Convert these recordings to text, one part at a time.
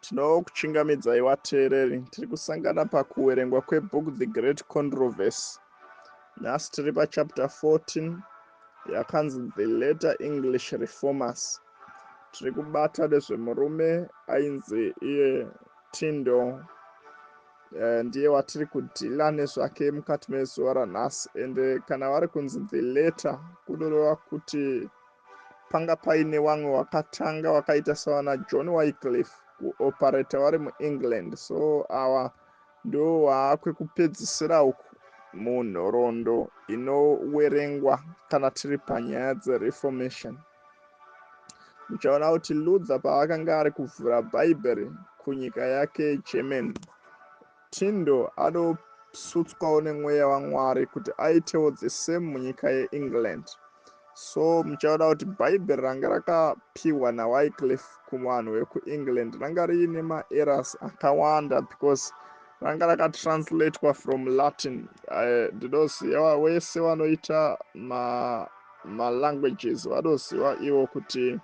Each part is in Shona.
tinokuchingamidzai vateereri tiri kusangana pakuverengwa kwebook the great controversy nhasi tiri pachapter 14 yakanzi the letter english reformers tiri kubata nezvemurume ainzi iye Tindo eh, ndiye watiri kudhila nezvake mukati mezuva ranhasi and eh, kana vari kunzi the letter kunoreva kuti panga paine wamwe wakatanga wakaita savana john wycliff kuoperata vari muengland so awa ndo waakwekupedzisira uku munhoroondo inowerengwa kana tiri panyaya dzereformation Uchaona kuti Luther paakanga ari kuvhura Bhaibheri kunyika yake yeGerman, Tyndall anosutswawo nemweya waMwari kuti aitewo the same munyika yeEngland. So muchaona kuti Bhaibheri ranga rakapiwa naWycliffe kuvanhu vekuEngland ranga riine maerrors akawanda because ranga rakatranslatewa from Latin. Eh, Ndinoziva wese wanoita ma Ma languages vanoziva ivo kuti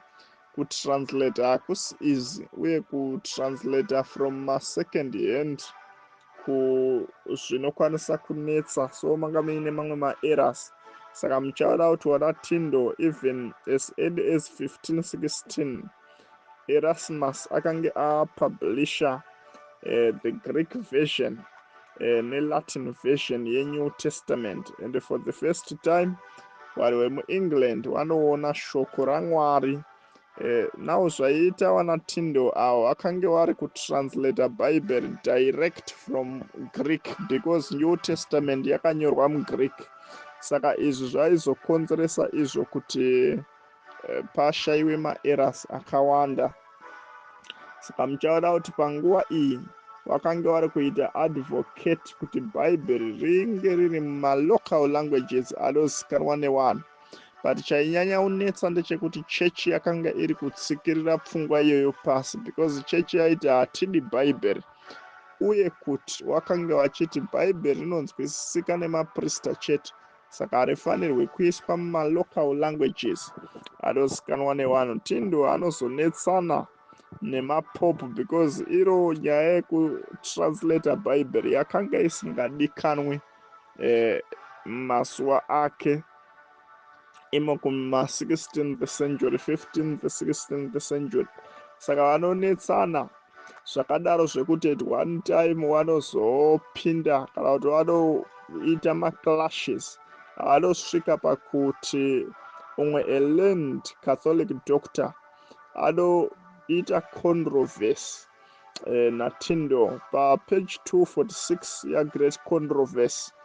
ku translator hakusi easy uye ku translator from ma second hand ku zvinokwanisa kunetsa so manga muine mamwe ma errors saka muchaona kuti wana tindo even as early as 15 16 Erasmus akange apublisha uh, the Greek version uh, neLatin version yeNew Testament and for the first time vari vemuengland vanoona shoko ramwari uh, now zvaiita vanatindo avo vakange vari kutranslata bible direct from greek because new testament yakanyorwa mugreek saka izvi zvaizokonzeresa izvo kuti eh, pashaiwe maerrors akawanda saka muchaona kuti panguva iyi vakange vari kuita advocate kuti bhaibheri ringe riri mumalocal languages anozikanwa newanhu but chainyanya unetsa ndechekuti chechi yakanga iri kutsikirira pfungwa iyoyo pasi because chechi yaiti hatidi bhaibheri uye kuti wakange vachiti bhaibheri rinonzwisisika nemaprista chete saka harifanirwe kuiswa mumalocal languages anozikanwa nevanhu tindo anozonetsana nemapopu because iro nyaya yekutranslata bhaibheri yakanga isingadikanwi eh, masuwa ake imo kuma16th century 15th 16th century saka vanonetsana zvakadaro zvekuti at one time vanozopinda kana kuti vanoita maclashes anosvika pakuti umwe elearned catholic doctor anoita controversy eh, natindo papage 246 yagreat controversy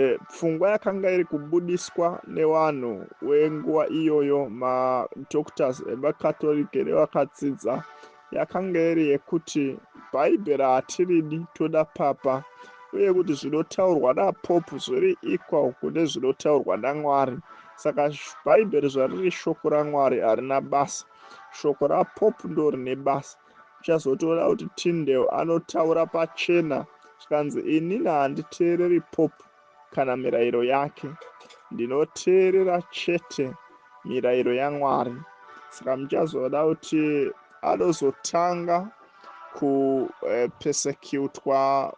E, pfungwa yakanga iri kubudiswa nevanhu wenguva iyoyo madoctors evakatorike nevakatsidza yakanga iri yekuti bhaibheri hatiridi toda papa uye kuti zvinotaurwa napopu zviri equal kune zvinotaurwa namwari saka bhaibheri zvariri shoko ramwari harina basa shoko rapopu ndo rine basa Uchazotoona kuti Tyndale anotaura pachena zvikanzi inini handiteereri Pope kana mirayiro yake. Ndinoteerera chete mirayiro yaMwari. Saka muchazoda kuti anozotanga kupesekutwa eh,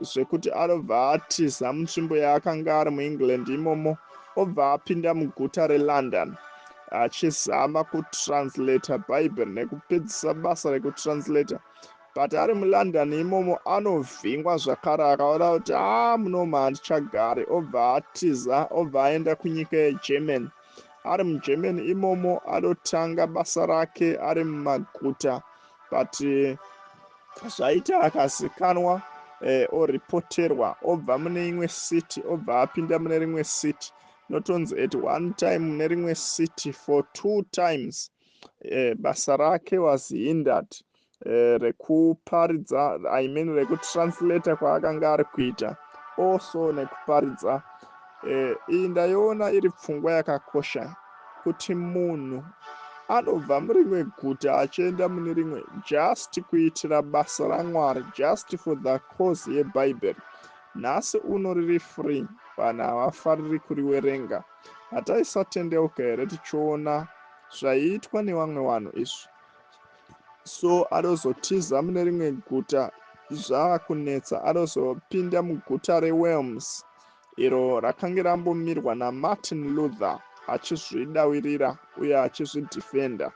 zvekuti anobva atiza mutsvimbo yaakanga ari muengland imomo obva apinda muguta relondon achizama kutranslator bhaibheri nekupedzisa basa rekutranslator but ari mulondon imomo anovhingwa zvakare akaona kuti haa ah, munoma handichagari obva atiza obva aenda kunyika yegermany ari mugermany imomo anotanga basa rake ari mumaguta but eh, zvaita akazikanwa eh, orepoterwa obva mune imwe city obva apinda mune rimwe city notonzi at one time mune rimwe city for two times eh, basa rake was hindered eh, rekuparidza i mean rekutranslator kwaakanga ari kuita also nekuparidza Eh, iyi ndaiona iri pfungwa yakakosha kuti munhu anobva murimwe guta achienda mune rimwe just kuitira basa ramwari just for the cause yebhaibheri nhasi uno riri free vanhu havafariri kuriwerenga hataisatendeuka here tichiona zvaiitwa nevamwe vanhu izvi so anozotiza mune rimwe guta zvaakunetsa anozopinda muguta rewelms iro rakange rambomirwa namartin luther achizvidawirira uye achizvidefender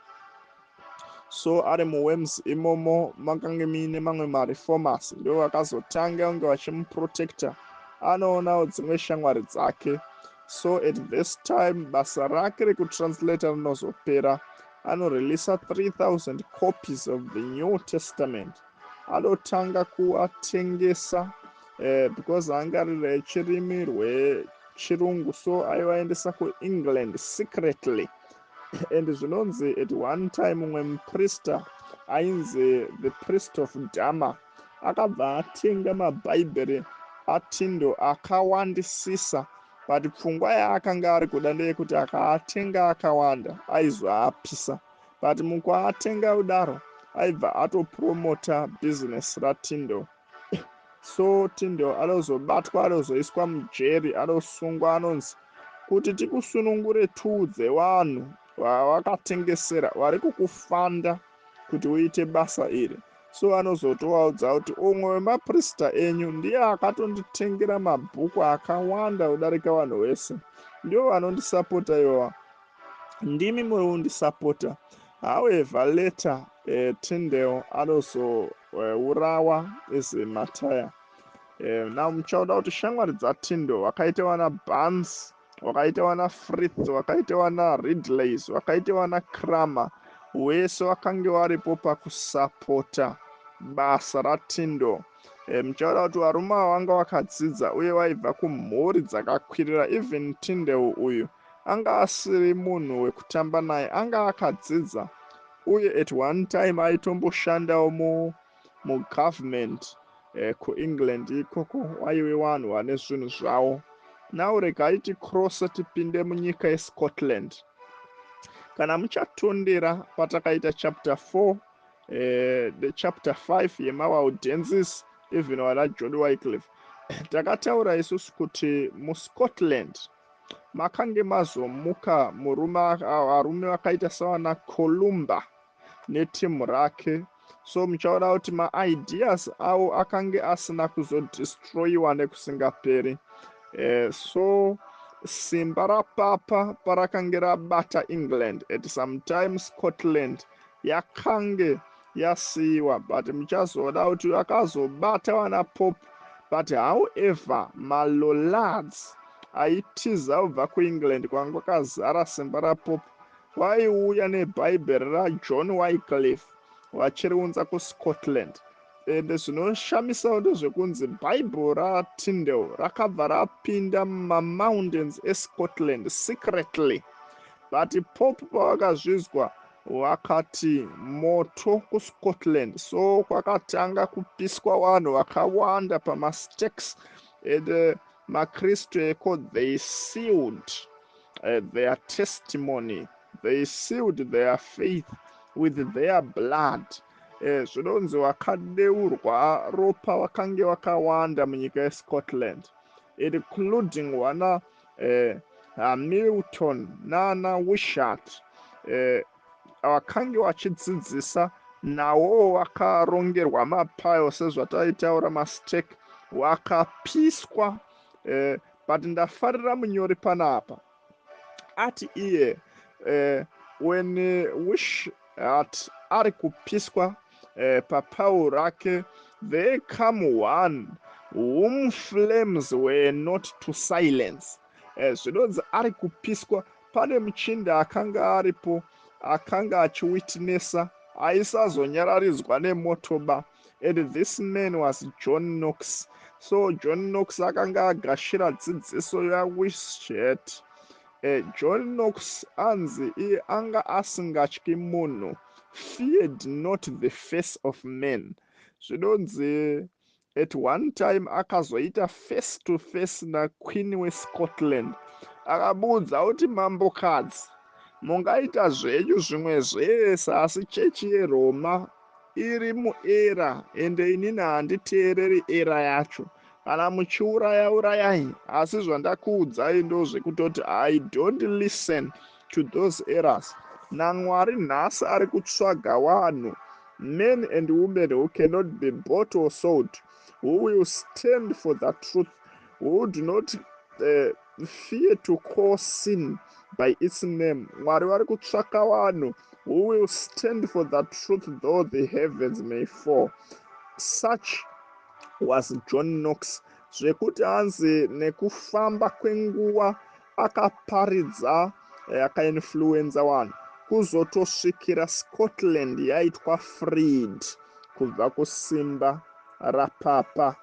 so ari muwems imomo makange muine mamwe mareformers ndivo vakazotanga kunge vachimuprotecta anoonawo dzimwe shamwari dzake so at this time basa rake rekutranslata rinozopera anoreleasa 3000 copies of the new testament anotanga kuatengesa eh, because angarire chirimi rwechirungu so aivaendesa kuengland secretly and zvinonzi at one time mumwe muprista ainzi the priest of dama akabva atenga mabhaibheri atindo akawandisisa but pfungwa yaakanga ari kuda ndeyekuti akaatenga akawanda aizoapisa but mukuatenga kudaro aibva atopromota business ratindle so tindle anozobatwa anozoiswa mujeri anosungwa anonzi kuti tikusunungure tiudze vanhu vawakatengesera vari kukufanda kuti uite basa iri so anozotovaudza kuti umwe wemaprista enyu ndiye akatonditengera mabhuku akawanda kudarika vanhu vese ndivo vanondisapota ivoa ndimi muri kundisapota however later uh, tindel anozourawa uh, is mataya uh, now muchaona kuti shamwari dzatindel wakaita wana bans wakaita wana frith wakaita wana ridleys wakaita wana cramer wese wakange waripo pakusapota basa ratindel Eh, muchaona kuti varume ava vanga vakadzidza uye vaibva kumhuri dzakakwirira even tindeu uyu Anga asiri munhu wekutamba naye anga akadzidza uye at one time aitomboshandawo mu mugovernment eh, kuengland ikoko waive wanhu wane zvinhu zvawo now regai tikrose tipinde munyika yescotland kana muchatondera patakaita chapter 4 eh, the chapter 5 yemawaudensis even wana jodi wycliff takataura isusu kuti muscotland makange mazomuka murume varume vakaita savana columba netimu rake so muchaona kuti maideas avo akange asina kuzodestroyiwa nekusingaperi eh, so simba rapapa parakange rabata england at sometime scotland yakange yasiiwa but muchazoda kuti akazobata vana pop but however malollards aitiza kubva kuengland kwanga kwakazara simba rapop waiuya nebhaibheri rajohn wycliff vachiriunza kuscotland ende zvinoshamisawo ndezvekunzi bhaibheri ratindel rakabva rapinda mumamountains escotland secretly but pop pavakazvinzwa Wakati moto kuScotland so kwakatanga kupiswa vanhu vakawanda pamastakes and uh, makristu eko they sealed uh, their testimony they sealed their faith with their blood eh, zvinonzi wakadeurwa ropa wakange wakawanda munyika yescotland including wana eh, hamilton nana wishat eh, vakange vachidzidzisa nawo vakarongerwa mapayo sezvataitaura mastake wakapiswa eh, but ndafarira munyori panapa ati iye eh, when wish at ari kupiswa eh, papawo rake there come one whom flames were not to silence eh, zvinonzi ari kupiswa pane muchinda akanga aripo akanga achiwitnessa aisazonyararidzwa nemoto ba and this man was john knox so john knox akanga agashira dzidziso yawishet John Knox anzi iye anga asingatyi munhu, feared not the face of man. Zvinonzi at one time akazoita face to face naQueen weScotland akamuudza kuti mambokadzi mungaita zvenyu zvimwe zvese asi chechi yeRoma iri muera ende inini handiteereri era yacho Kana muchiuraya urayai asi zvandakuudzai ndozvekutoti I don't listen to those errors. NaMwari nhasi ari kutsvaga wanhu men and women who cannot be bought or sold who will stand for the truth who do not uh, fear to call sin by its name mwari vari kutsvaka vanhu who will stand for the truth though the heavens may fall such was john knox zvekuti hanzi nekufamba kwenguva akaparidza eh, akainfluenza vanhu kuzotosvikira scotland yaitwa freed kubva kusimba rapapa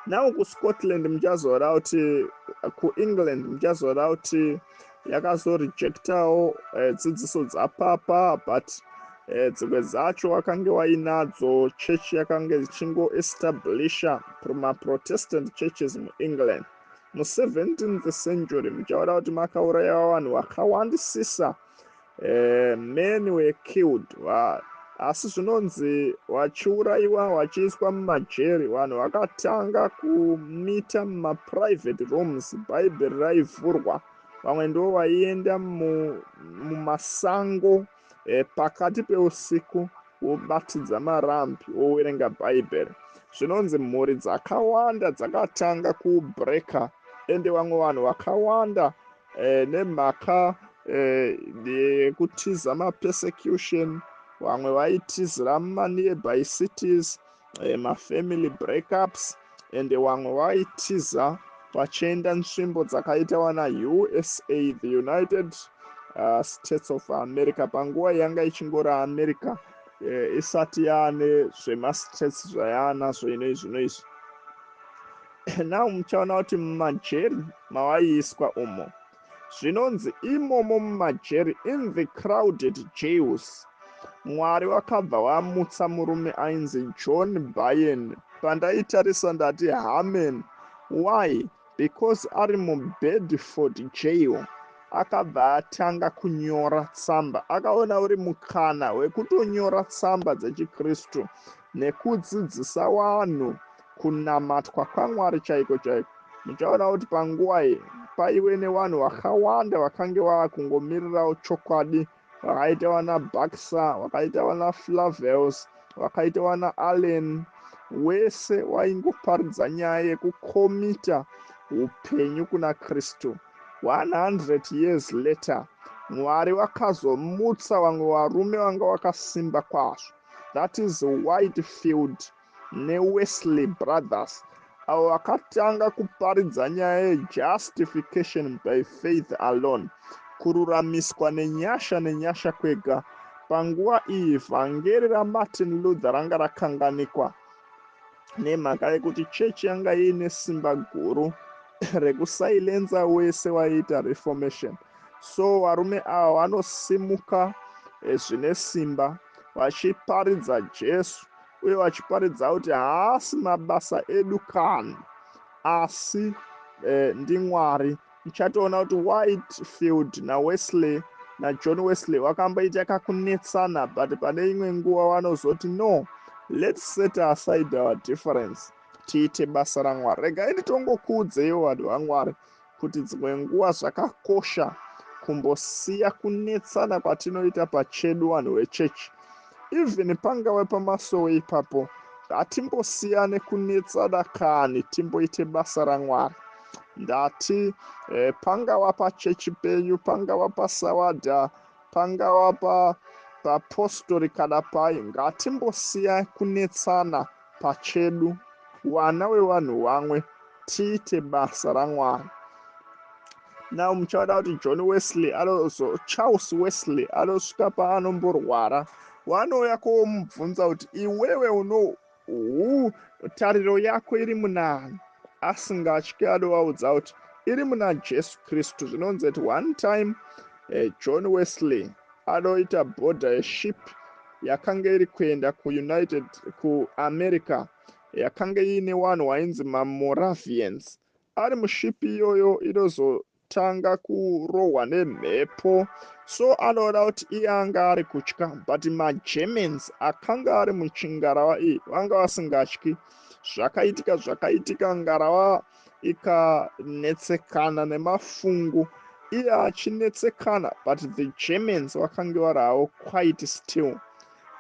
now kuscotland muchazoona kuti kuengland muchazoona kuti yakazorejectawo eh, dzidziso dzapapa but eh, dzimwe dzacho wakange wainadzo church yakange dzichingoestablisha maprotestant churches muengland mu17th century muchaona kuti makaurayawa vanhu vakawandisisa eh, men were killed vanhu asi zvinonzi vachiurayiwa vachiiswa mumajeri vanhu vakatanga kumita mumaprivate rooms bhaibheri raivhurwa vamwe ndo vaienda mumasango eh, pakati peusiku wobatidza marambi wowerenga bhaibheri zvinonzi mhuri dzakawanda dzakatanga kubreaker ende vamwe vanhu vakawanda eh, nemhaka eh, yekutiza eh, mapersecution vamwe vaitizira mumanearby cities eh, mafamily breakups and vamwe vaitiza vachienda nzvimbo dzakaita wana usa the united uh, states of america panguva yanga ichingori america eh, isati yaane zvemastates zvayaanazvo inoizvino izvi now muchaona kuti mumajeri mawaiiswa umo zvinonzi imomo mumajeri in the crowded jails mwari wakabva wamutsa murume ainzi john bayen pandaitarisa ndati hamen why because ari mubedford jail akabva atanga kunyora tsamba akaona uri mukana wekutonyora tsamba dzechikristu nekudzidzisa wanhu Kunamatwa kwaMwari chaiko chaiko. Muchaona kuti panguva iyi paive nevanhu vakawanda vakange vava kungomirirawo chokwadi, vakaita vana Baxter, vakaita vana Flavels, vakaita vana Allen, wese waingoparidza nyaya yekukomita upenyu kuna Kristu. 100 years later, Mwari vakazomutsa vamwe varume vanga vakasimba kwazvo. That is Whitefield. neWesley Brothers avo vakatanga kuparidza nyaya yejustification by faith alone, kururamiswa nenyasha nenyasha kwega. Panguva iyi, vhangeri raMartin Luther ranga rakanganikwa nemhaka yekuti chechi yanga iine simba guru rekusailenza wese waiita reformation. So varume ava vanosimuka eh, zvine simba vachiparidza Jesu uye vachiparidza kuti haasi mabasa edu kani asi eh, ndimwari muchatoona kuti whitefield nawesley najohn wesley vakamboita kakunetsana but pane imwe nguva vanozoti no let's set aside our difference tiite basa ramwari regai nditongokuudzeiwo vanhu vamwari kuti dzimwe nguva zvakakosha kumbosiya kunetsana kwatinoita pachedu vanhu vechechi even pangave pamasowe ipapo ngatimbosiyane kunetsana kani timboite basa ramwari ndati eh, pangava pachechi penyu pangava pasawada pangava papostori kana pai ngatimbosiya kunetsana pachedu wana wevanhu wamwe tiite basa ramwari now muchaona kuti john wesley anozo charles wesley anosvika paanomborwara wanouya komubvunza kuti iwewe uno hu tariro yako iri munani asingatye anovaudza kuti iri muna jesu kristu zvinonzi at one time uh, john wesley Anoita bhodha yeship yakange iri kuenda kuUnited kuAmerica yakange iine wanhu wainzi maMoravians. Ari muship iyoyo inozo tanga kurohwa nemhepo so anoona kuti iye anga ari kutya but magermans akanga ari muchingarawa iyi vanga vasingatyi zvakaitika zvakaitika ngarawa ikanetsekana nemafungu iye achinetsekana but the germans vakange vari havo quite still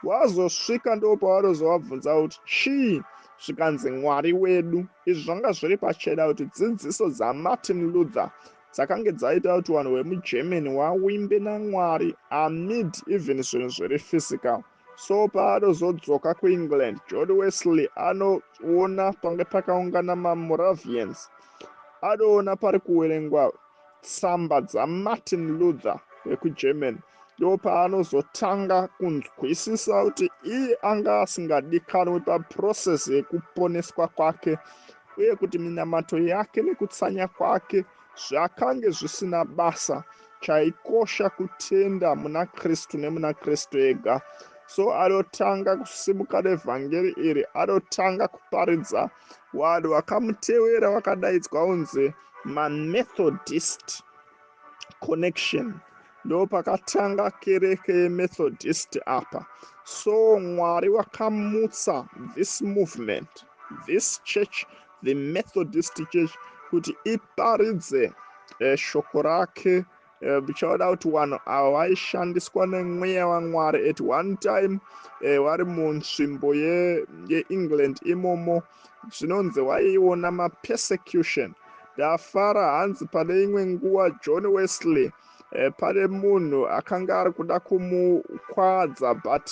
vazosvika ndo pavarozovabvunza kuti chii zvikanzi mwari wedu izvi zvanga zviri pachena kuti dzidziso dzamartin luther dzakange dzaita kuti vanhu vemugermany wawimbe namwari amid even zvinhu zviri physical so paanozodzoka kuengland john wesley anoona pange pakaungana mamoravians anoona pari kuwerengwa tsamba dzamartin luther vekugerman ndo paanozotanga kunzwisisa kuti iye anga asingadikanwi paprocess yekuponeswa kwake uye kuti minamato yake nekutsanya kwake Zvakange zvisina basa, chaikosha kutenda muna Kristu nemuna Kristu ega. So adotanga kusimuka nevhangeri iri, adotanga kuparidza. Vanhu vakamutevera vakadaidzwa unzi maMethodist connection ndopakatanga kereke yemethodist apa so mwari wakamutsa this movement this church the Methodist Church kuti iparidze eh, shoko rake eh, bichaoda kuti vanhu ava vaishandiswa nemweya wamwari at one time eh, vari munzvimbo yeengland ye imomo zvinonzi vaiona mapersecution ndafara hanzi pane imwe nguva john wesley eh, pane munhu akanga ari kuda kumukwadza but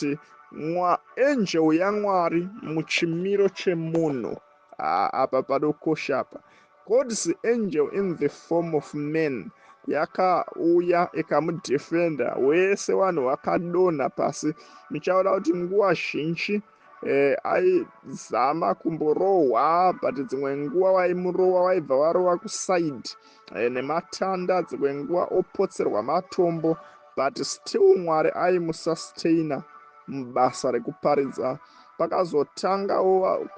mwa angel yamwari muchimiro chemunhu ah, apa padokosha apa god's angel in the form of man yakauya ikamudefenda wese vanhu vakadonha pasi muchaona kuti nguva zhinji eh, aizama kumborohwa but dzimwe nguva vaimurowa vaibva varowa kuside eh, nematanda dzimwe nguva opotserwa matombo but still mwari aimusustaina mubasa rekuparidza pakazotangawo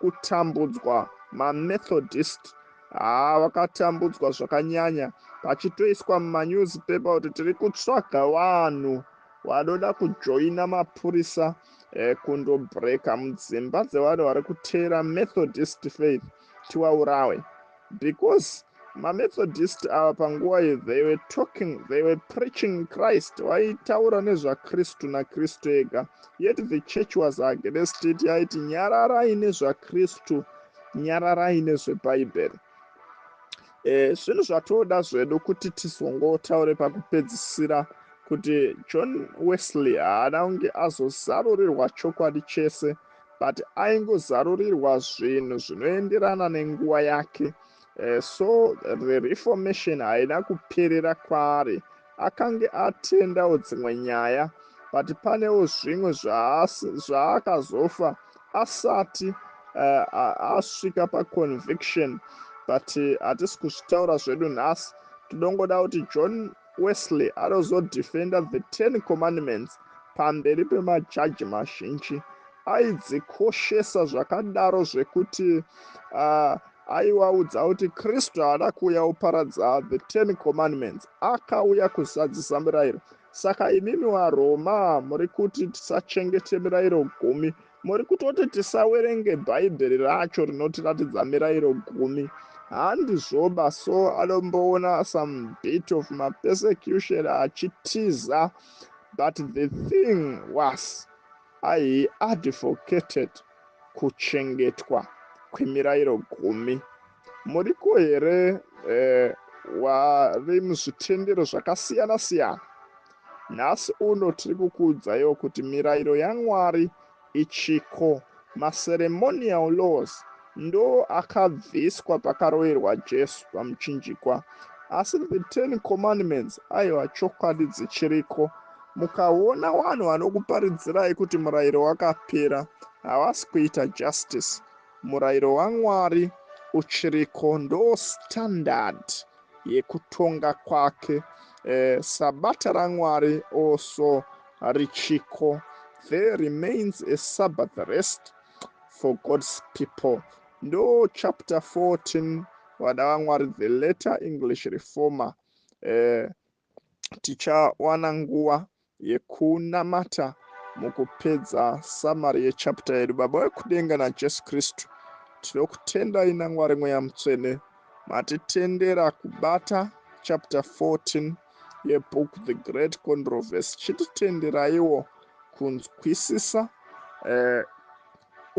kutambudzwa mamethodist haa ah, vakatambudzwa zvakanyanya pachitoiswa mumanewspaper kuti tiri kutsvaga vanhu vanoda kujoina mapurisa ekundobreaker mudzimba dzevanhu vari kuteera methodist faith tiwaurawe because mamethodist ava panguva iyi they were talking they were preaching christ vaitaura nezvakristu nakristu ega yet the church was against it yaiti nyararai nezvakristu nyararai nezvebhaibheri e, zvinhu zvatoda zvedu kuti tizongotaure pakupedzisira kuti john wesley haana kunge azozarurirwa chokwadi chese but aingozarurirwa zvinhu zvinoenderana nenguva yake e, so the reformation haina kuperera kwaari akange atendawo dzimwe nyaya but panewo zvimwe zvaakazofa asati uh, asvika paconviction but eh, hatisi uh, kuzvitaura zvedu nhasi todongoda kuti john wesley anozodefenda the ten commandments pamberi pemajaji mazhinji aidzikoshesa zvakadaro zvekuti uh, Aiwa udza kuti Kristu haana kuuya kuparadza the ten commandments akauya kuzadzisa mirayiro saka imimi waroma muri kuti tisachengete mirayiro gumi muri kutoti tisawerenge bhaibheri racho rinotiratidza mirayiro gumi handizvoba so anomboona some bit of mapersecution achitiza but the thing was i advocated kuchengetwa kwemirayiro gumi. Muriko here eh, wave muzvitendero zvakasiyana siyana? Nhasi uno tiri kukuudzaiwo kuti mirayiro yaMwari ichiko, maceremonial laws, ndo akabviswa pakaroverwa Jesu pamuchinjikwa. Asi the Ten Commandments, aiwa chokwadi dzichiriko. Mukaona wanhu vanokuparidzirai kuti murairo wakapera havasi kuita justice. Murairo waMwari uchiriko ndoo standard yekutonga kwake. Eh, sabata raMwari also richiko. There remains a Sabbath rest for God's people. Ndoo chapter 14 vana vaMwari the later English reformer. Eh, tichawana nguva yekunamata mukupedza samari yechapta yedu. Baba wekudenga naJesu Kristu, tinokutendai naMwari Mweya Mutsvene matitendera kubata chapta 14 yebook The Great Controversy. Chititenderaiwo kunzwisisa eh,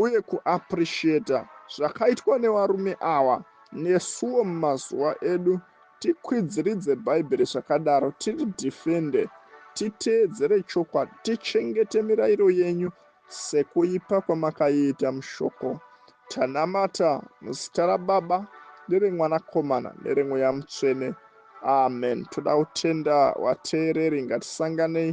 uye kuappreciater zvakaitwa nevarume awa nesuwo mumazuva edu tikwidziridze bhaibheri zvakadaro tiri defende titeedzere chokwadi tichengete mirairo yenyu sekuipa kwamakaiita mushoko tanamata muzita rababa neremwanakomana neremweya mutsvene amen toda kutenda vateereri ngatisanganei